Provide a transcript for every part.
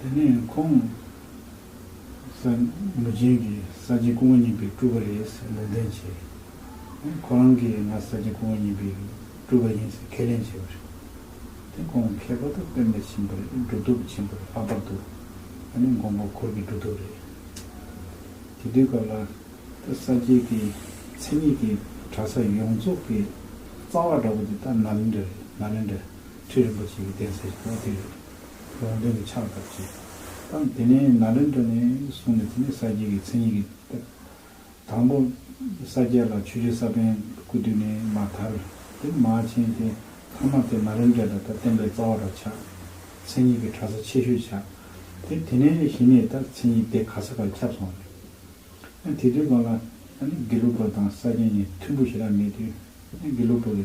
དེ་ནས་ཁོང་ས་མུ་ཅན་གྱི་ས་སྐྱའི་སྐུ་ངོ་གཉིས་པའི་སྤྲུལ་པ་རེད་ཟེར་ལུང་བསྟན་བྱས། ཁོ་རང་གིས་ང་ས་སྐྱའི་སྐུ་ངོ་གཉིས་པའི་སྤྲུལ་པ་ཡིན་ཟེར་ཁས་ལེན་བྱས་པ་རེད། དེ་ཁོང་ཁྱད་པར་དུ་དཔལ་འབར་ཆེན་པོར་སྒྲུབ་ཐོབ་ཆེན་པོར་ལྷག་པར་དུ་དགོངས་པ་འཁོར་གྱི་སྒྲུབ་ཐོབ་རེད། དེ་དུས་སྐབས་ལ་ད་ས་སྐྱའི་དེ་མཚན་ཉིད་ཀྱི་གྲྭ་ས་ཡོངས་རྫོགས་ཀྱི་རྩ་བ་འདྲ་པོ་དེ་ད་ནཱ་ལེནྡྲ་རེད་ནཱ་ལེནྡྲ། ཁྲི་རིན་པོ་ཆེ་གི་གདན་སའི་ཕྱོགས་དེར་རོང་སྟོན་གྱི་ཕྱག་བཏབ་རྗེས། ཐང་དེ་ནས་ན་ལེན་དྲ་ནས་བཟུང་ནས་དེ་ནས་ས་སྐྱའི་གི་མཚན་ཉིད་ཀྱི་བཏབ། དང་པོ། ས་སྐྱ་ལ་ཆོས་རྗེ་ས་པན་སྐུ་བསྡུས་ནས་མ་དར། དེར་མ་བྱན་ཏེ་ཐང་མ་དེ་ན་ལེན་དྲ་ད་ལྟ་བསྟན་པའི་རྩ་བ་ར་ཆགས། མཚན་ཉིད་ཀྱི་གྲ་ས་ཆེ་ཤོས་ཆགས། དེ་དེ་ནས་གཞི་ནས་ད་མཚན་ཉིད་དེ་ག་ས་ག་ཁྱབ་སོང་རེད། ཡང་དེ་དུས་གང་ལ་ཡང་ནི་དགེ་ལུགས་པ་དང་ས་སྐྱ་གཉིས་མཐུན་པོ་ཞེ་དྲག་མེད་དུས་ཡང་དགེ་ལུགས་པ་གི།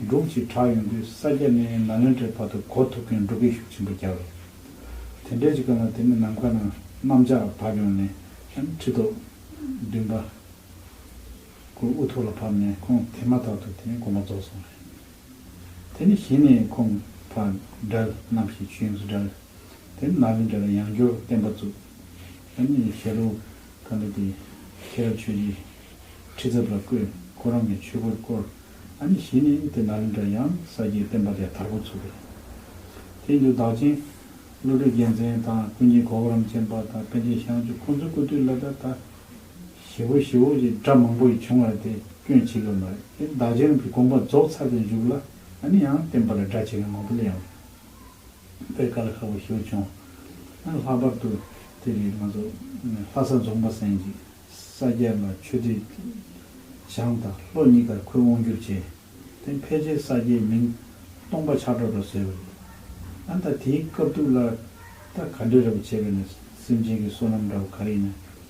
འབྲུག་ཅེས་གྲགས་ཡོང་དུས་ས་སྐྱ་ནས་ནཱ་ལེནྡྲའི་བར་དུ་གོ་ཐུབ་མཁན་འབྲུག་གི་ཤུགས་ཆེན་པོ་རྒྱག་རེད། དེ་འདྲའི་གཅིག་ག་ལ་དེ་ནི་ནམ་མཁའ་ན་གནམ་ལྕགས་བབས་ཡོང་ནས་ཡང་ཁྲི་ཐོག། བདུན་པ། སྐུ་དབུ་ཐོག་ལ་ཕབ་ནས་ཁོང་དེ་མ་ཐག་ཏུ་དེ་ནི་དགོན་པ་རྫོགས་སོང་རེད། དེ་ནི་གཞི་ནས་ཁོང་ཕ་དགྲ་རྣམ་བཞིའི་ཆོས་དབྱིངས་སུ་བསྒྲལ། དེ་ནི་ནཱ་ལེནྡྲ་ལ་ཡང་སྦྱོར་བསྟན་པ་བཙུགས། ཡང་ནི་ཞལ་ལུང་ཐ་མི་དད། ཁྱེད་རང་ཆོས་ཀྱི་ཁྲི་ཚབ་ལ་བསྐོས། ཁོ་རང་གི་ཆོས་སྒོར་བསྐོར། ཨ་ནི་གཞི་ནས་དེ་ན་ལིངྒ་ཡང་ས་སྐྱའི་བསྟན་པ་ལས་དར་གོ་ཚུགས་པས། དེའི་འདུག་བདག་ཆེན། བློ་གྲོས་རྒྱལ་མཚན་དང་ཀུན་མཁྱེན་གོ་བོ་རམ་ཅན་པ་དང་པཎ་ཆེན་ཞང་ཆུ་ཁོང་ཚོའི་སྐུ་དུས་ལ་ད་ལྟ། ཞི་བོ་ཞི་བོ་ཞེས་སྒྲ་མང་པོ་ཡིས་བྱུང་བར་དེ་སྐྱོན་ཆེ་གི་མ་རེད་དེ་བདག་ཆེན་རྣམས་ཀྱི་དགོངས་པ་རྫོགས་ཚར་དུ་འཇུག་ལ་ཨ་ནི་ཡང་བསྟན་པ་ལ་སྒྲ་ཆེ་གི་མང་པོ་ལས་ཡང། པའི་སྐར་ཁ་བོ་ཞོར་བྱུང། ལྷག་པར་དུ་དེ་རིང་ང་ཚོ་ལྷ་ས་རྫོང་པ་སན་གྱི་ས་སྐྱ་ལ་ཆོས་འབྲེལ་བཞག་མཐར་ལྷོ་གཉིས་ཀར་ཁོད་དབང་བསྒྱུར་བྱས། དེ་ཕལ་ཆེར་ས་སྐྱའི་མིང་སྟོང་པ་ཆགས་གྲོགས་འདྲ་བཟོས་པ་རེད། ད་དེའི་སྐབས་དུག་ལ་ད་ག་འདྲ་རེ་བ་བྱས་པས་ན་སེམས་ཅན་གྱི་བསོད་ནམས་འདྲ་བ་ག་རེ་ཡིན་ན།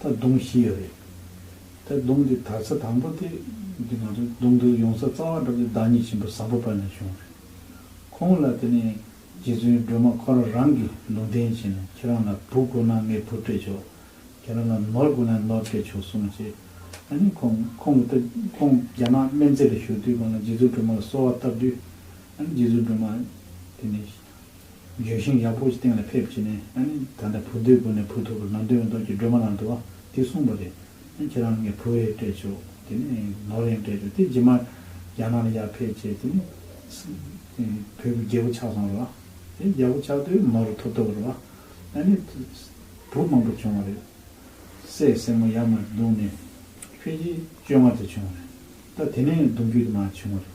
ད་དུང་ཤི་ཡ་རེད། ད་དུང་གི་དར་ས་དང་པོ་དེ་འདི་ང་ཚོ་དུང་དུང་ཡོང་ས་གཙང་བ་གྲོགས་ཀྱི་བདག་ཉིད་ཆེན་པོ་བཟང་པོ་པ་ནས་བྱུང་བ་རེད། ཁོང་ལ་དེ་ནས་རྗེ་བཙུན་སྒྲོལ་མ་ཁོ་རང་རང་གིས་ལུང་བསྟན་བྱས་ནས་ཁྱེད་རང་ལ་བུ་དགོས་ན་ངས་བུ་སྤྲད་ཆོག་ཁྱེད་རང་ལ་ནོར་དགོས་ན་ནོར་སྤྲད་ཆོག་གསུངས་རྗེས་ཨ་ནི་ཁོང་ཁོང་གི་ད་ཁོང་རྒྱ་ནག་སྨན་རྩིས་ལ་ཞུགས་དུས་ཁོང་ལ་རྗེ་བཙུན་སྒྲོལ་མ་ལ་གསོལ་བ་བཏབ་དུས་ཨ་ནི་རྗེ་བཙུན་སྒྲོལ་མ་དེ་ནས་ལྗོན་ཤིང་ཡག་པོ་ཞིག་སྟེང་ལ་ཕེབས་བྱས་ནས། ཨ་ནི་ད་ལྟ་བུ་དོད་དགོས་ནས་བུ་ཐུག་པར་ནང་དོན་མི་འདོག་ཅེས་སྒྲོལ་མ་ལང་དུ་བ་དེས་གསུངས་པ་རེད། ཨ་ནི་ཁྱེད་རང་ངའི་བུ་རེད་སྤྲད་ཆོག་དེ་ནས་ནོར་ཡང་སྤྲད་ཆོག་དེ་རྗེས་མར་རྒྱ་ནག་ལ་ཡར་ཕེབས་བྱས་དེ་ནས། བུ་གི་རྒྱལ་པོ་ཆགས་སོང་རེད་བ། དེ་རྒྱལ་པོ་ཆགས་དུས་ནོར་རུ་ཐོབ་ཐུབ་རེད་བ། ཨ་ནི། བུ་མང་པོ་བྱུང་བ་རེད། སའི་སྲས་མོ་ཡར་མར་བརྡུངས་ནས། ཕལ་ཆེར་བཅོ་ལྔ་དེ་བྱུང་བ་རེད། ད་དེ་ནས་བརྡུང་རྒྱུ་དེ་མ་བྱུང་བ་རེད།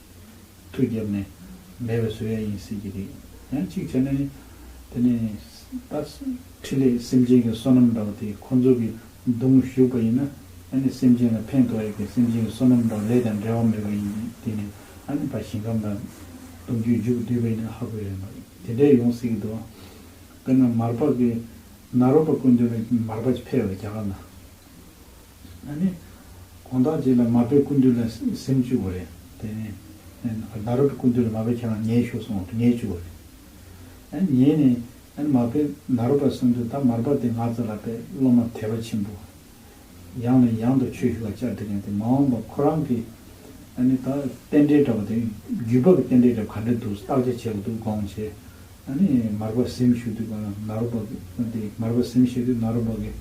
ཐུགས་བརྒྱབ་ནས་འབད་པའི་བཟོད་ཡ་ཡིན་སྲིད་ཀྱི་རེད། ཡང་གཅིག་བྱས་ན། དེ་ནི། ད། ཕྲིན་ལས་སེམས་ཅན་གྱི་བསོད་ནམས་འདྲ་བོ་དེ་ཁོ་ཚོ་གི་མདུང་བཞུགས་པ་ཡིན་ན། ད་ནི་སེམས་ཅན་ལ་ཕན་ཐོགས་ཡོད་ཀྱི་སེམས་ཅན་གྱི་བསོད་ནམས་འདྲ་བོ་ལས་ཀྱང་འབྲལ་བ་མེད་པ་ཡིན་གྱི་དེ་ནི། ད་ནི་ཕ་ཞིང་ཁམས་དང། གཏུམ་རྒྱུད་རྒྱུད་བསྡུས་པ་ཡིན་ན་ཧ་གོ་ཡ་ཡིན་པ་དེ་འདྲས་ཡོང་སྲིད་ཀྱི་འདུག་ཨང། དཔེར་ན་མར་པགས་ཀྱི། ནཱ་རོ་པ་ཀུན་འདུས་ལ་མར་པགས་ཕལ་བའི་རྒྱ་གར་ན། ད་ནི། གང་དག་ཅིག་ལ་མ་པའི་ཀུན་འདུས་ལ་སེམས་བཅུག་གོ་རེ། དེ་ནི། ན་རོ་པའི་ཀུན་འདུས་ལ་མ་པའི་ཁྱེད་རང་ཉལ་བཞུགས་སོང་བ་དུ་ཉལ་བཅུག་གོ་རེ། ཉལ་ནས། མ་པས་ན་རོ་པ་གསུམ་དུ་ད་མར་པ་དེ་ང་ཙ་ལ་པའི་སློབ་མ་དད་པ་ཆེན་པོ། ཡང་ནས་ཡང་དུ་ཆོས་ཞུ་བ་བཅར་འདྲི་ངེས་ཏེ་མ་འོངས་པ་ཁོ་རང་གི། ད་ནི། རྟེན་འབྲེལ་འདྲ་བ་དེ་རྒྱུད་བབས་ཀྱི་རྟེན་འབྲེལ་འདྲ་བ་ག་འདྲ་འདུག་བརྟག་དཔྱད་བྱས་པ་དུ་དགོངས་བྱས། ཨ་ནི་མར་པ་སེམས་བཞུགས་དུས་གང་ན་རོ་པ་གི། ཨ་ཏི་མར་པ་སེམས་བཞུགས་དུས་ན་རོ་པ་གི།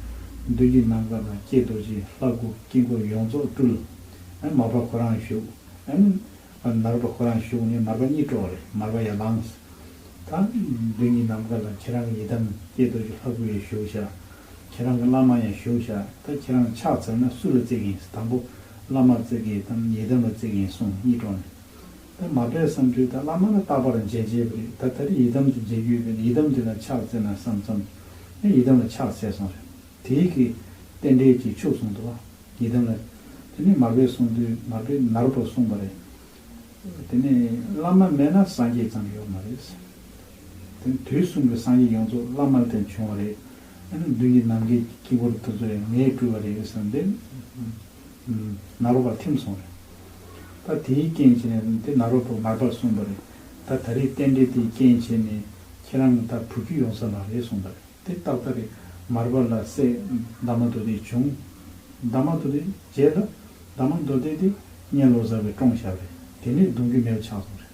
མདུན་གྱི་ནམ་མཁའ་དང་བསྐྱེད་རྡོ་རྗེའི་ལྷ་སྐུ་དཀྱིལ་འཁོར་ཡོངས་རྫོགས་སྤྲུལ། ཨ་མར་པ་ཁོ་རང་བཞུགས། ཨ་ནི། ཨ་ནི་རོ་པ་ཁོ་རང་བཞུགས་ནས་མར་པ་གཉིད་དཀྲོགས་རེ་མར་པ་ཡར་ལངས། ད། མདུན་གྱི་ནམ་མཁའ་ལ་ཁྱེད་རང་གི་ཡི་དམ་བསྐྱེད་རྡོ་རྗེ་ལྷ་སྐུ་ཡང་བཞུགས་བྱ། ཁྱེད་རང་གི་བླ་མ་ཡང་བཞུགས་བྱ་ད་ཁྱེད་རང་ཕྱག་འཚལ་ན་སུ་ལ་བརྩེགས་ཡིན་དང་པོ་བླ་མར་བརྩེགས་ཡིན་དམ་ཡི་དམ་ལ་བརྩེགས་ཡིན་གསུངས་གཉིད་དཀྲོགས་ནས། ད་མ་པས་བསམ་དུས་ད་བླ་མ་ལ་རྟག་པར་མཇལ་བྱས་པ་རེད་ད་ད་རེས་ཡི་དམ་དུ་མཇལ་རྒྱུ་ཡོད་པས་ན་ཡི་དམ་དེ་ལ་ཕྱག་བཙལ་ན་བསམ་བསམ། ཡང་ཡི་དམ་ལ་ཕྱག་བཙལ་སོང་རེད། དེ་ཡི་གེ། རྟེན་འབྲེལ་གྱིས་ཕྱུག་སོང་འདུག་བ། ཡི་དམ་ལ། དེ་ནས་མར་པས་སོང་དུས་མར་པས་ནར་བུར་གསུངས་པ་རེད། དེ་ནས། བླ་མ་མེད་ན་སངས་རྒྱས་ཙམ་ཡོད་མ་རེད། དེ་ནས་དུས་གསུམ་གྱི་སངས་རྒྱས་ཡོངས་རྫོགས་བླ་མ་ལ་བརྟེན་བྱུང་བ་རེད། ཡང་ན་མདུན་གྱི་ནམ་མཁའི་དཀྱིལ་འཁོར་དེ་ཚོ་ཡང་ངས་བསྐུལ་བ་རེད་བསམ་སྟེ། ནཱ་རོ་པ་ཐིམ་སོང་རེད། ད་དེའི་རྐྱེན་བྱས་ནས་དེ་ནཱ་རོ་པོ་མར་པར་གསུངས་པ་རེད། ད་ད་རེས་རྟེན་འབྲེལ་དེའི་རྐྱེན་བྱས་ནས་ཁྱེད་རང་གི་ད་བུ་རྒྱུད་ཡོང་ས་མ་རེད་གསུངས་པ་རེད། དེ་ཏག་ཏག་རེད། མར་པར་ལ་སྲས་འདབ་མ་དོ་དེ་བྱུང། འདབ་མ་དོ་དེ་བརྗེས་ལ། འདབ་མ་མདོ་སྡེ་དེ་གཉན་ལོ་བཟའ་བའི་བཀྲོངས་ཞབས་རེད། དེ་ནས་གདུང་རྒྱུད་མེད་པ་ཆགས་སོང་རེད།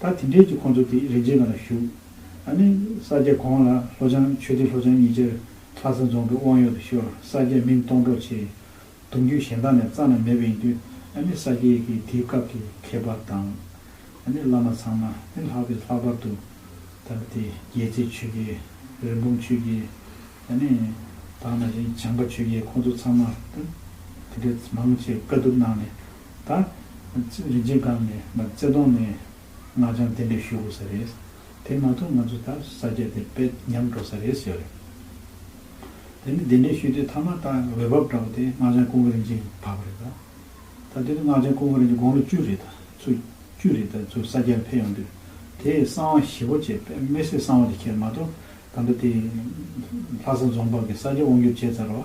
ད་དེ་འབྲེལ་གྱི་ཁོང་ཚོ་དེ་རིགས་རྗེས་ང་ལ་ཞུ། ད་ནི་ས་སྐྱ་གོང་ལ་ལྷོ་བྱང་ཆོས་སྡེ་ལྷོ་བྱང་གཉིས་ཅར་ལྷ་ས་རྫོང་གི་དབང་ཡོད་དུ་ཤོར་ས་སྐྱ་མིང་སྟོང་སྒྲོག་ཆེ། གདུང་རྒྱུད་གཞན་དག་ནས་རྩ་ན་མེད་པ་ཡིན་དུས་ད་ནི་ས་སྐྱའི་གི་དེའི་སྐབས་ཀྱི་མཁས་པ་དང། ད་ནི་བླ་མ་ཚང་མ་ནི་ལྷག་པའི་ལྷག་པར་དུ། ད་དེ་རྒྱལ་རྩེ་ཆོས་རྒྱལ། རིན་སྤུངས་ཆོས་རྒྱལ། ད་ནི་དག་ན་ཅིང་བྱང་པ་ཆོས་རྒྱལ་ཁོང་ཚོ་ཚང་མ་ད་དེ་འདྲའི་མང་ཆེ་བཀའ་བསྡུར་གནང་ནས་ད། རིན་ཆེན་སྒང་ནས་ང་རྩེ་གདོང་ནས་སྔགས་འཆང་གཏན་འབེབས་ཞུ་དགོས་ས་རེད། དེ་མ་ཐུབ་ང་ཚོ་ད་ས་སྐྱ་དེར་དཔེ་ཉམས་འགྲོ་ས་རེད་ཟེར། དེ་ནས་གདན་འདྲེན་ཞུས་དུས་མཐའ་མ་ད་འོས་བབ་འདྲ་བོ་དེ་སྔགས་འཆང་ཀུན་དགའ་རིན་ཆེན་བབ་པ་རེད་ད། ད་དེ་ནས་སྔགས་འཆང་ཀུན་དགའ་རིན་ཆེན་དགོང་ལོ་བཅུ་རེད་ད་ཚོ་བཅུ་རེད་ད་ཚོ་ས་སྐྱར་ཕེབས་ཡོང་དུས་དེས་གསང་བ་ཞི་བོ་བྱས་དམེ་སྲས་གསང་བ་དེ་ཁྱེར་མ་གཏོགས་ད་ལྟ་དེ། ལྷ་ས་རྫོང་ཕག་གི་ས་སྐྱ་དབང་བསྒྱུར་བྱས་ཚར་བ།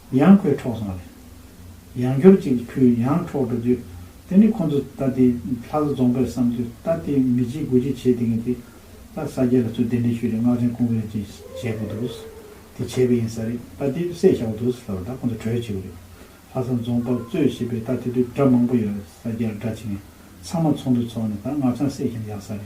ཡང་ཁོས་འཕྲོག་སོང་རེད། ཡང་སྐྱོར་ཅིག་ཁོས་ཡང་འཕྲོག་འགྲོ་དུས། དེ་ནི་ཁོ་ཚོ་ད་ལྟའི་ལྷ་ས་རྫོང་པས་བསམ་དུས་ད་ལྟའི་མི་སྤྱིའི་དགོས་ཀྱི་བྱས་དེ་ངེས་ཏེ། ད་ས་སྐྱ་ལ་ཚུར་གདན་འདྲེན་ཞུས་རེད་སྔགས་ཆེན་ཀུན་བས་ཀྱི་བྱས་པོ་འདུག། དེ་བྱས་པས་ཡིན་ས་རེད་ད་ལྟའི་བསད་ཤ་བོ་འདུག་ཟེར་བ་ད་ཁོ་ཚོ་གྲོས་བྱེད་དགོས་རེད། ལྷ་ས་རྫོང་པ་གཙོས་བྱས་པས་ད་དེ་དུས་དགྲ་མང་པོ་ཡོད་རེད་ས་སྐྱར་དགྲ་བྱེད་མཁན་ཚང་མ་ཚོགས་འདུ་ཚོགས་ནས་ད་སྔགས་འཆང་བསད་ཤ་ཡག་ས་རེད།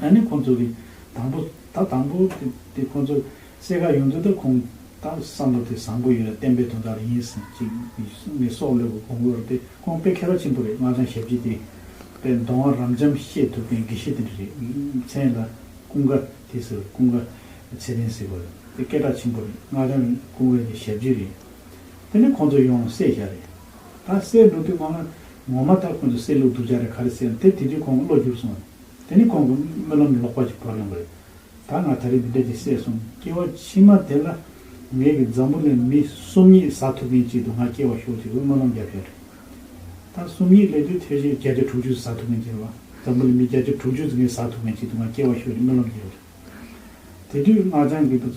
ཨ་ནི་ཁོ་ཚོ་གི་དང་པོ་ད་དང་པོ་དེ་ཁོ་ཚོ་གསལ་ཁ་ཡོང་དུས་ད་ཁོང་ད་བསམ་བློ་དེ་བཟང་པོ་ཡོད་ར་བསྟན་པའི་དོན་དག་རེ་ཡིན་ཟིན་ཅིག་ངའི་སྲོག་བློས་གོ་གོང་བོར་དེ་ཁོང་དཔེ་ཁེ་ར་ཆེན་པོ་རེད་སྔགས་འཆང་ཞབས་ཀྱི་དེ་དཔེ་མདོ་བ་རམ་འབྱམས་བཤད་ཐུབ་མཁན་དགེ་བཤེས་དེ་འདྲ་རེད་མཚན་ལ་ཀུན་དགའ་དེ་ཟེར་བ་ཀུན་དགའ་ཚེ་རིང་ཟེར་བ་རེད་དེ་སྐད་གྲགས་ཆེན་པོ་རེད་སྔགས་འཆང་ཀུན་དགའ་དེ་ཞབས་ཀྱི་རེད་དེ་ནི་ཁོང་ཚོ་ཡོང་གསལ་བཞག་རེད་ད་གསལ་འགྲོ་དུས་ང་ངོ་མ་ད་ཁོང་ཚོ་གསལ་ལུགས་སྡུག་ཅག་རེད་ག་རེ་གསལ་དེ་དེ་དུས་ཁོང་བློ་འགྱུར་སོང་རེད། དེ་ནི་ཁོང་གི་སྨོན་ལམ་ལོག་པ་ཞིག་བོར་ཡོང་གི་རེད། ད་ང་ད་རེས་འདི་འདྲ་ཅིག་བསད་སོང་སྐྱེ་བ་ཕྱི་མ་དེ་ལ་ངེད་ཀྱི་འཛམ་བུ་ལས་མི་གསུམ་གཉིས་བཟའ་ཐུབ་མཁན་ཅིག་ཏུ་ང་སྐྱེ་བ་ཤོག་ཅིག་ལ་སྨོན་ལམ་བརྒྱབ་བཞག་རེད། ད་གསུམ་གཉིས་ལས་དུས་མཐའི་རྗེས་བརྒྱ་ཆ་དྲུག་ཅུ་བཟའ་ཐུབ་མཁན་ཅིག་ལ་འཛམ་བུ་ལས་མི་བརྒྱ་ཆ་དྲུག་ཅུ་ཙམ་གྱིས་བཟའ་ཐུབ་མཁན་ཅིག་ཏུ་ང་སྐྱེ་བ་ཤོག་ཅིག་སྨོན་ལམ་བརྒྱབ་བཞག། དེ་དུས་སྔགས་འཆང་གི་བུ་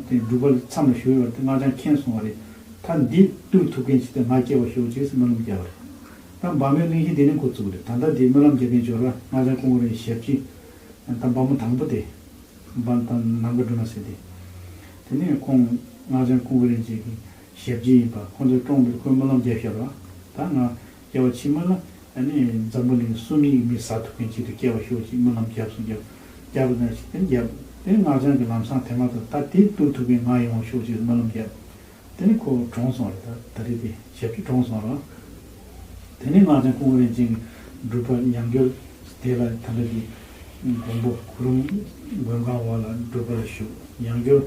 དེ་སྒྲུབ་པ་ལ་མཚམས་ལ་ཞུགས་ཡོད་དེ་སྔགས་འཆང་མཁྱེན་སོང་བ་རེད། ད་འདི་བསྟུར་ཐུབ་མཁན་ཅི་སྟེ་ང་སྐྱེ་བར་ཞོག་ཅེས་སྨོན་ལམ་བརྒྱབ་པ་རེད། ད་འབངས་མོའི་གླིང་གཞི་འདི་ནས་འགོ་བཙུགས་རེད་ད་ལྟ་འདི་སྨོན་ལམ་རྒྱག་མཁན་ཇོ་ར་སྔགས་འཆང་སྐུ་ངོ་རེད་ཞབས་ཀྱིས་ད་འབངས་མོ་དང་པོ་དེ་འབངས་ད་ནམ་མཁའ་འགྲོ་མ་ཟེར་དེ། དེ་ནས་ཁོང་སྔགས་འཆང་སྐུ་ངོ་རེད་ཅེས་ཀྱི་ཞབས་ཀྱིས་ཡིན་པ་ཁོང་ཚོས་བཀྲོངས་འདིར་ཁོས་སྨོན་ལམ་བརྒྱབ་ཤར་བ་ད་ང་སྐྱེ་བ་ཕྱི་མ་ལ་ནི་འཛམ་བུ་གླིང་གསུམ་ཡིག་མི་ཟ་ཐུབ་མཁན་ཞིག་ཏུ་སྐྱེ་བ་ཤོར་ཅིག་སྨོན་ལམ་རྒྱབས་སུ་བརྒྱབ། རྒྱབ་ལ་ནས་ཞིག་དེར་བརྒྱབ། དེ་ནས་སྔགས་འཆང་གི་ལམ་སྲང་དེ་མ་ཐག་ད་དེ་བཏུ་ཐུབ་མཁན་ང་ཡོང་བ་ཤོར་ཅིག་སྨོན་ལམ་རྒྱབ། དེ་ནས་ཁོ་གྲོངས་སོང་རེད་ད་ད་རེད་དེ་ཞབས་ཀྱིས་གྲོངས་སོང་རོགས། དེ་ནས་སྔགས་འཆང་སྐུ་ངོ་རིན་ཆེན་གྱི་སྒྲུབ་པ་ཉམས་འགྱུར་དེ་ལ་ད་ལོ་ཀྱི་དགོང་པོ་གུ་རུམ་མགོན་ཁང་བ་ལ་སྒྲུབ་པ་ལ་ཞུགས་ཉམས་འགྱུར་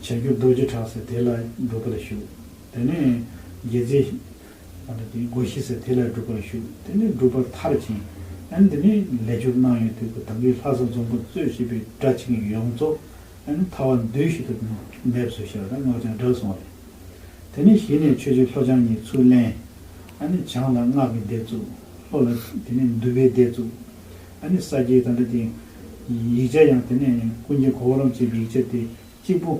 བྱ་རྒྱུ་རྡོ་རྗེ་བྲག་ཟེར་དེ་ལ་སྒྲུབ་པ་ལ་ཞུགས། དེ་ནས་རྒྱལ་རྩེ། ཨ་ནི་དེའི་སྒོ་ཤིས་ཟེར་དེ་ལས་སྒྲུབ་པར་ཞུགས་དེ་ནས་སྒྲུབ་པར་མཐར་ཕྱིན། ཨ་ནི་དེ་ནས་ལས་སྦྱོར་གནང་ཡོང་དུས་ཀུན་དགའི་ལྷ་ས་འཛོམ་པོ་གཙོས་བྱས་པའི་སྒྲ་ཆེན་གྱི་ཡོངས་རྫོགས་ཨ་ནི་ཐ་བ་འདུས་ཤིག་ཏུ་འདེབས་སོ་ཞེས་པ་དང་སྔགས་ཀྱང་བསྒྲགས་སོང་བ་རེད། དེ་ནས་གཞི་ནས་ཆོས་རྗེ་ལྷོ་བྱང་གཉིས་ཚུར་ལེན། ཨ་ནི་བྱང་ལ་སྔགས་ཀྱི་སྡེ་བཙུགས། ལྷོ་ལ་དེ་ནས་འདུས་པའི་སྡེ་བཙུགས། ཨ་ནི་ས་སྐྱའི་དང་སྒྲ་དེ། ཡིག་ཆ་ཡང་དེ་ནས་ཀུན་མཁྱེན་གོ་བོ་རམ་ཅེས་པའི་ཡིག་ཆ་དེ་གཅིག་པུ།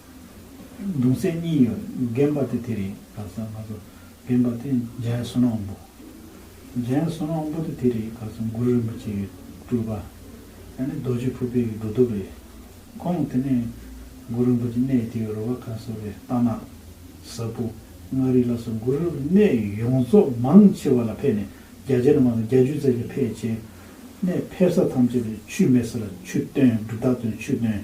གདུང་སྲས་གཉིས་ཡོད་རྒན་པ་དེ་དེ་རེད་ག་ཚོད་ང་ཚོ་རྒན་པ་དེ་འཇའི་བསོད་ནམས་པོ། འཇའི་བསོད་ནམས་པོ་དེ་དེ་རེད་ག་ཚོད་མགུར་རིན་པོ་ཆེ་ཡི་སྤྲུལ་པ། ཡང་ནི་རྡོ་རྗེ་ཕུར་པའི་ཡི་འགྲོ་དོབ་རེད། ཁོང་དེ་ནས་མགུར་རིན་པོ་ཆེ་གནས་དེ་ཡི་རོལ་བ་ཁ་གསོ་བའི་རྟ་ནག། གཟར་བུ། མངའ་རིས་ལ་སོགས་མགུར་རིན་པོ་གནས་ཡོངས་རྫོགས་མང་ཆེ་བ་ལ་ཕེབས་ནས་རྒྱ་ཆེ་ན་མང་ན་རྒྱ་ཇུས་རྩེ་ལ་ཕེབས་བྱས་ནས་ཕེབས་ས་ཐམས་ཅད་དུ་ཆུས་མེད་ས་ལ་ཆུ་བཏོན་འབྲུ་བཏགས་སྟོན་ཆུ་བཏོན།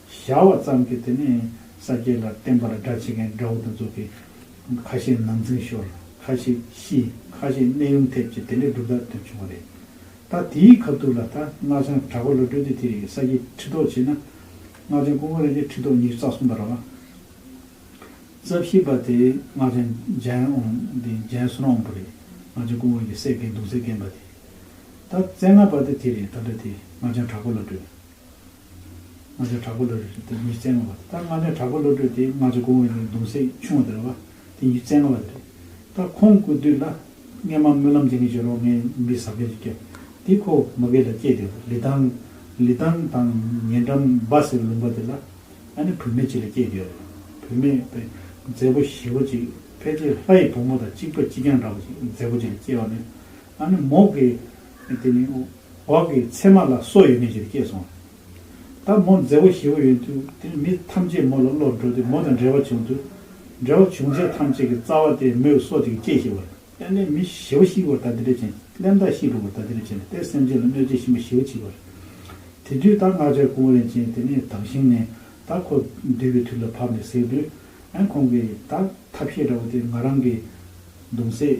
བཞག་བ་ཙམ་གྱིས་དེ་ནི་ས་སྐྱའི་ལ་བརྟེན་པ་ལ་སྒྲ་བྱེད་མཁན་དགྲ་བོ་དང་གཙུག་གི། ཁ་ཤས་ནང་འཛིང་ཤོར། ཁ་ཤས་ཤི། ཁ་ཤས་གནས་དབྱུང་ཐེབས་ཀྱི་དེ་འདྲའི་གྲུབ་རྟགས་ཐོན་བྱུང་བ་རེད། ད་དེའི་ཁ་བཏུགས་ལ་ད་སྔགས་འཆང་གྲགས་པ་ལོ་སྤྲུལ་སྡེ་དེ་རིགས་ས་སྐྱའི་ཁྲི་ཐོག་བྱས་ན། སྔགས་འཆང་སྐུ་ངོ་རེ་འགའི་ཁྲི་ཐོག་ཉིས་བརྩ་གསུམ་པ་ར་བ། རྩ་བཞི་པ་དེ་སྔགས་འཆང་ལྗན་ཨོང་དེ་ལྗན་བསོད་ནམས་དབང་པོ་རེད། སྔགས་འཆང་སྐུ་ངོ་ཡི་སྲས་དགེ་འདུན་ཚེ་བརྒན་པ་དེ། ད་རྩེ་ལྔ་པ་དེ་དེ་རེད་ད་འདྲ་དེ་སྔགས་འཆང་གྲགས་པ་ལོ་སྤྲུལ། ལྔ་ཆ་དྲག་པོ་བློ་གྲོས་དེ་ཉིད་རྩལ་ལྔ་བ་དེ་ལྟར་ལྔ་ཆ་དྲག་པོ་བློ་གྲོས་དེ་ལྔ་ཆ་གོང་བའི་ནི་གདུང་སྲེག་ཆུང་བ་དེ་ལ་བ་དེ་ཉིད་རྩལ་ལྔ་བ་དེ་རེད། ད་ཁོང་སྐུ་བསྡུས་ལ། སྔས་མ་སྨོན་ལམ་འདི་ངས་བྱེད་རོགས་ངས་མི་ཟ་མཁན་ཞིག་སྐྱེ། དེ་ཁོ་མ་དགེ་ལ་སྐྱེས་དེ་ལ་ལི་ཐང། ལི་ཐང་དང་ཉེ་འགྲམ་འབའ་སེར་ལུང་པ་དེ་ལ། ཨ་ནེ་བུད་མེད་ཅིག་ལ་སྐྱེས་དེ། བུད་མེད་དཔེ། མཛེས་པོ་ཞི་བོ་ཅིག་ཕལ་ཆེར་ལྷ་ཡི་བུ་མོ་དང་གཅིག་པ་གཅིག་རྐྱང་འདྲ་བ་ཅིག་མཛེས་པོ་ཅིག་ལ་སྐྱེས་བ་ནི། ཨ་ནེ་མོག་གི། དེ་ནས་འོག་གི་མཚན་མ་ལ་སྲོག་ཡོད་མིན་ཞེས་སྐྱེས་སོང་བ། ད་མོ་མཛའ་བོ་ཞེ་བོ་ཡོད་དུས་དེ་ནི་མི་ཐམས་ཅད་མོ་ལ་བློར་འགྲོ་སྟེ་མོ་དང་འབྲེལ་བ་བྱུང་དུས། འབྲེལ་བ་བྱུང་རྗེས་ཐམས་ཅད་ཀྱི་རྩ་བ་དེ་མོས་གསོ་དེ་གི་སྐྱེས་ཞེས་པར་བརྟེན་ནས་མི་ཞེ་བོ་ཤི་བར་ད་ལྟའི་འབྲས་ཆན་སླེམ་དང་ཤི་འགྲོ་བར་ད་ལྟའི་འབྲས་ཆན་ལ་སྟེ་སེམས་ཅན་ལ་གནོད་བྱེད་གཤིན་པོ་ཞེ་བོ་མཆིས་པར། དེ་དུས་ད་སྔགས་འཆར་ཀུན་བརླན་ཅན་དེ་ནི་དྭངས་ཤིང་ནས་ད་ཁོ་བསྡུས་པའི་དུས་ལ་བབ་ནས་ཟེར་དུས། ཨན་ཁོང་གིས་ད་ཐབས་ཤེས་འདྲ་བོ་དེ་ང་རང་གིས་འདུག་མཛེས།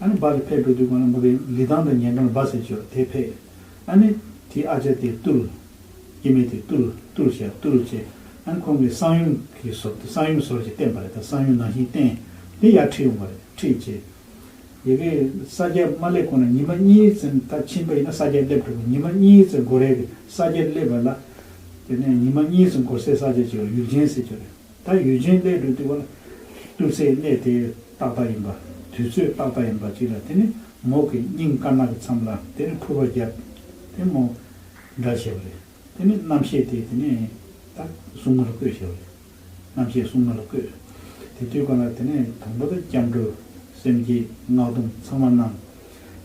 ཨ་ནི་བག་གི་ཕས་སྤྲོ་བསྡུའི་སྒོ་ན་མུ་རེ་ལི་ཐང་དང་ཉལ་འགྲམ་ལ་བག་ཟེར་བྱོས་དེ་ཕས། ཨ་ནི། དེའི་ཨ་ཅག་དེ་བཏུལ། སྐྱེ་མེད་དེ་བཏུལ། བཏུལ་བྱས་བཏུལ་བྱས། ཨ་ནི་ཁོང་གིས་སང་ཡུམ་གྱི་ཟོར་དེ་སང་ཡུམ་ཟོར་ཞེས་བསྟན་པ་རེད་ད་སང་ཡུམ་ནང་བཞིན་བསྟན། དེ་ཡར་ཁྲིད་ཡོང་བ་རེད་ཁྲིད་རྗེས། ཡི་གེ། ས་སྐྱ་མ་སླེབས་གོང་ན་ཉི་མ་གཉིས་ཙམ་ད་ཕྱིན་པ་ཡིན་ན་ས་སྐྱ་སླེབས་འགྲོ་དགོས་ཉི་མ་གཉིས་ཙམ་འགོར་རེད་ས་སྐྱ་སླེབས་པ་ལ། དེ་ནས་ཉི་མ་གཉིས་ཙམ་འགོར་སའི་ས་སྐྱ་ཅིག་ལ་ཡུལ་ཆེན་ཟེར་བྱོས་རེད། ད་ཡུལ་ཆེན་སླད་དུ་བཏུལ་བ་ལ། བཏུལ་སའི་གནས་དེ་ཏག་ཏག་ཡིན་པ། དུས་ཚོད་ཏག་ཏག་ཡིན་པ་ཅིག་ལ་དེ་ནི་མོག་གི་སྙིང་དཀར་ནག་གི་མཚམས་ལ་དེ་ནི་ཕུར་བ་བརྒྱབ། དེ་མོ། འདྲ་བྱས་པ་རེད། དེ་ནི་རྣམ་ཤེས་དེ་དེ་ནི། ད། སྲུང་མ་ལ་བསྐོས་བྱས་པ་རེད། རྣམ་ཤེས་སྲུང་མ་ལ་བསྐོས། དེ་དུས་གང་ལ་དེ་ནི་དང་པོ་ད་སྐྱབས་འགྲོ། སེམས་བསྐྱེད། སྔགས་སྡོམ་ཚང་མ་གནང།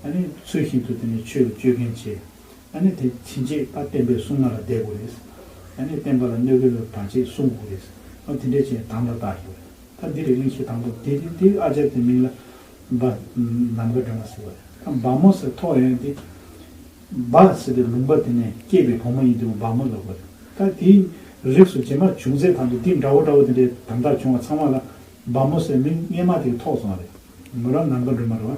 ད་ནི་ཚུལ་བཞིན་དུ་དེ་ནི་ཆོས་ལ་སྤྱོད་མཁན་བྱས། ཡང་ན་དེ་ཕྱིན་ཆད་པ་བསྟན་པའི་སྲུང་མ་ལ་བསྡད་དགོས་རེད། ཡང་ན་བསྟན་པ་ལ་གནོད་འགལ་བའི་བར་ཆད་སྲུང་དགོས་རེད། ཨོ་དེ་འདྲའི་ཆེས་དམ་པ་དག་ཡོད་རེད། ད་འདི་རེ་གླེང་ཤེས་དང་པོ་དེ་དེ་དེ་ཨ་ཅར་དེ་མིང་ལ་འབའ་ནམ་མཁའ་སྒྲོན་མ་ཟེར་བ་རེད། ད་འབའ་མོ་ཟེར་ཐོག་ཡོད་ན་དེ་འབའ་ཟེར་བའི་ལུང་པ་དེ་ནས་སྐྱེས་པའི་བུ་མོ་ཡིན་དུས་འབའ་མོ་ལབ་པ་རེད། ད་དེའི་རིགས་སུ་རྗེས་མ་བྱུང་ཚད་དང་པོ་འདི་འདྲ་བོ་འདྲ་བོ་དེ་འདྲའི་དམ་དག་བྱུང་བ་ཚང་མ་ལ་འབའ་མོ་ཟེར་མིང་སྔས་མ་དེ་ཐོག་སོང་བ་རེད། མོ་རང་ནམ་མཁའ་སྒྲོན་མ་རེད་བ།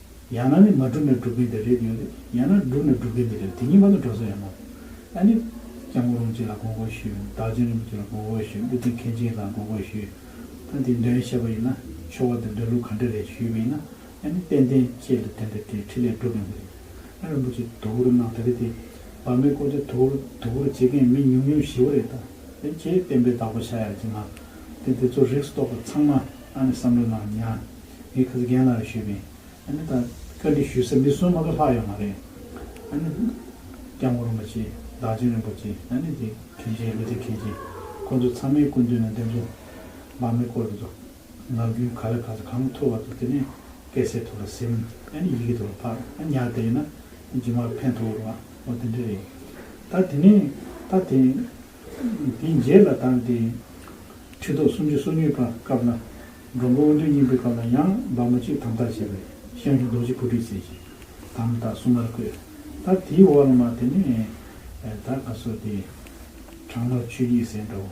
ཡང་ན་ནི་མ་བསྒྲུབས་ནས་བསྒྲུབ་མཁན་དེ་རེད་ཡོད་ནི་ཡང་ན་བསྒྲུབས་ནས་བསྒྲུབ་མཁན་དེ་རེད་དེ་གཉིས་མ་ལ་འགྲོ་ས་ཡོད་མོད། ཨ་ནི། སྐྱབས་མགོན་རོང་ཆེན་ལ་དགོངས་སྐོར་ཞུས། བདག་བྱོན་རིན་པོ་ཆེ་ལ་དགོངས་སྐོར་ཞུས་ཀླུ་ཆེན་མཁན་ཆེན་ལ་དགོངས་སྐོར་ཞུས། ད་འདི་འདྲ་ཡིན་ཤེས་པ་ཡིན་ན་ཆོ་ག་འདི་འདྲ་ལུགས་ག་འདྲ་རེད་ཞུས་པ་ཡིན་ན་ཨ་ནི་དཔལ་ལྡན་ཁྱེད་ལ་དེ་འདྲ་དེ་ཁྲི་ལས་སྒྲུབ་ཡོང་གི་རེད། ཨ་རིན་པོ་ཆེ་དུ་བུར་གནང་ད་རེད་དེ། བག་མེད་ཀོ་ཆ་དུ་བུར་དུ་བུར་བྱེད་མཁན་མི་ཉུང་ཉུང་ཞི་བ་རེད་ད། དེ་ཁྱེད་བསྟན་པའི་བདག་པོ་ཤ་ཡག་ཅིག་གནང། དེ་དེ་ཚོ་རིགས་སྟོག་པ་ཚང་མ་ཨ་ནི་བསམ་བློ་གནང་ཉག། ངས་ཁ་ཚ་རྒན་ལགས་ལ་ཞུས་པས། ཨ་ནི་ད་བཀའ་འདྲི་ཞུས་ས་མི་གསུམ་མ་ག་ལྷག་ཡོད་མ་རེད། ཨ་ནི། སྐྱབས་མགོན་རིན་པོ་ཆེ། བདག་ཆེན་རིན་པོ་ཆེ། ཨ་ནི་རྗེ་མཁན་ཆེན་ཀླུ་ཚེ་མཁན་ཆེན། ཁོང་ཚོ་ཚང་མའི་སྐུ་མདུན་ལ་འདེམས་སོང། འབངས་མི་སྐོར་དེ་ཚོ། ངག་རྒྱུན་ག་ལ་ག་ཚ་གང་འཐོར་བ་ཚོ་དེ་ནས་སྐད་སེར་ཐོག་ལ་སིམ། ཨ་ནི་ཡི་གེ་དེ་ལ་ཕར་ཨ་ཉག་བསྡད་ཡོད་ན། རྗེས་མར་ཕན་ཐོག་འོར་བ་མོ་དེ་འདྲ་རེད། ད་དེ་ནས་ད་དེ། དེའི་རྗེས་ལ་ད་དེ། ཁྲི་ཐོག་སུམ་ཅུ་སོ་གཉིས་པ་སྐབས་ལ། མགོན་པོ་དབོན་སྟོན་སྙིང་པོའི་སྐབས་ན་ཡང་འབར་མ་བཅུས་དམ་དར་བྱས་པས་ཤངས་ཀྱི་རྡོ་རྗེ་ཕུར་སྒྲིག་བྱས་ཤིང་དམ་དང་སྲུང་མར་བསྐོས། ད་དེའི་འོག་ལ་མ་དེ་ནས་ད་ག་སོགས་ཏེ། དྲག་མོར་ཆོས་སྐྱིད་སེང་དྲག་བོ།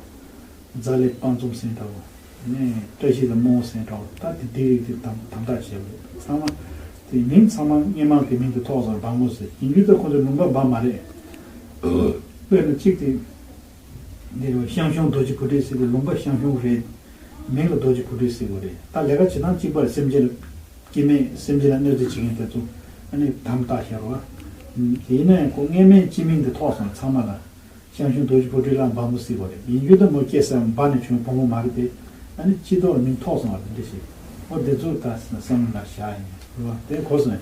རྫ་ལས་དཔའ་འཛོམས་སེང་དྲག་བོ། བཀྲ་ཤིས་ལས་རྨོ་བོ་སེང་དྲག་བོ་ད་དེ་དེའི་རིགས་དེ་དམ་དར་བྱས་པ་རེད་ཚང་མ། དེ་མིང་ཚང་མ་སྙན་མང་གི་མིང་དུ་ཐོགས་ཙང་འབར་མོ་ཟེར་ཡིན་རྒྱུ་ད་ཁོང་ཚོའི་ལུང་པ་འབར་མ་རེད། དཔེར་ན་གཅིག་དེ། འདི་ལོ་ཤང་ཤོང་རྡོ་རྗེ་བུ་ཕྲུག་སེ་གོལ་ལུང་པ་ཤང་ཤོང་རེད། མིང་ལ་རྡོ་རྗེ་བུ་ཕྲུག་སེ་གོལ་རེད་ད་ལས་ཀ་བྱེད་སྟངས་གཅིག་པར་སེམས་ཅན་ལ་སྐྱིད་མེད་སེམས་ཅན་ལ་གནོད་འཚེ་བྱེད་མཁན་དེ་ཚོ་ནི་དམ་བཏགས་ཤ་རོ། དེ་ཡིན་ན་ཁོ་རྔན་སྨན་སྤྱི་མིང་དེ་ཐོགས་སོང་ཚང་མ་ལ། ཤང་ཤོང་རྡོ་རྗེ་བུ་ཕྲུག་གླང་འབའ་མོ་སེ་གོལ་རེད་ཡིན་རྒྱུ་ད་མོ་སྐྱེས་སར་འབའ་ནས་བྱུང་བའི་བུ་མོ་མ་རེད་དེ། སྤྱི་ཐོགས་ལ་མིང་ཐོགས་སོང་བ་དེ་འདྲ་ཞིག་ཨོ་དེ་ཚོ་ད་བསམ་བློ་ལ་བཞག་ཡིན་རུང་དེ་གོ་སོང།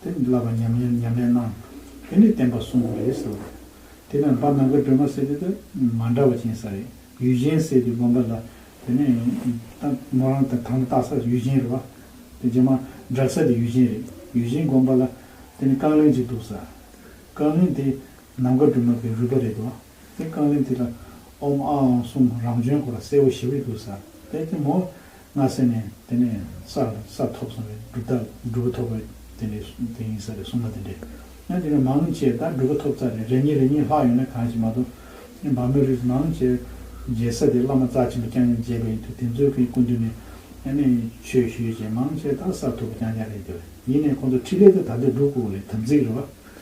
དེ་ནི་བསླབ་པ་ཉམས་ལེན་ཉམས་ལེན་སྣང། དེ་ནི་བསྟན་པ་བསྲུང་བ་རེད་ཟེར་བ་རེད། དེ་ནི་འབའ་ནང་གི་སྒྲོལ་མ་སེ་དེ་དང་མ་འདྲ་བ་ཅན་ས་རེད། ཡུལ་གཞན་སེ་དེ་དགོན་པ་ལ་དེ་ནི། མོ་རང་དང་ཐང་བཏགས་ས་ཡུལ་གཞན་རེད་བ། དེ་རྗེས་མ་བསྒྲགས་ས་དེ་ཡུལ་གཞན་རེད། ཡུལ་གཞན་དགོན་པ་ལ་དེ་ནི་རྐང་གླིང་ཅིག་འདུག་ས། རྐང་གླིང་དེ་ནམ་མཁའ་སྒྲོལ་མ་པའི་རུས་པ་རེད་བ། དེ་རྐང་གླིང་དེ་ལ་ཨོམ་ཨ་ཨོང་གསུམ་རང་བྱོན་སྐོར་ལ་གསལ་བོ་ཞིབ་རེ་དགོས་ས་དེ་དེ་མོ་སྔ་སེ་ནས་དེ་ནས་སར་ས་ཐོབ་སོང་བས་སྒྲུབ་ཐབས་སྒྲུབ་པ་ཐོབ་པ་དེ་འདྲའི་དེ་ཡིན་ས་རེད་གསུངས་པ་དེ་འདྲས་ཡང་དེ་ནས་མང་བྱས་ད་སྒྲུབ་པ་ཐོབ་ཚར་རེད་རེ་གཉིས་རེ་གཉིས་ལྷག་ཡོད་ན་གང་ཞིག་མ་གཏོགས་འབའ་མི་རིགས་མང་བྱས་མཇལ་ས་དེ་བླ་མ་རྩ་ཆེན་པོ་རྐྱང་རྐྱང་མཇལ་བ་ཡིན་དུས་དེ་ཚོའི་གི་སྐུ་མདུན་ནས་ཡང་ནས་ཆོས་ཞུས་བྱས་མང་བྱས་ད་ས་ཐོབ་པ་རྐྱང་རྐྱང་རེད་འདོད་ཡིན་ནས་ཁོང་ཚོ་ཁྲི་ལས་ད་ད་ལྟ་སྒྲུབ་སྐོར་ལས་དམ་ཚིག་རེད་བ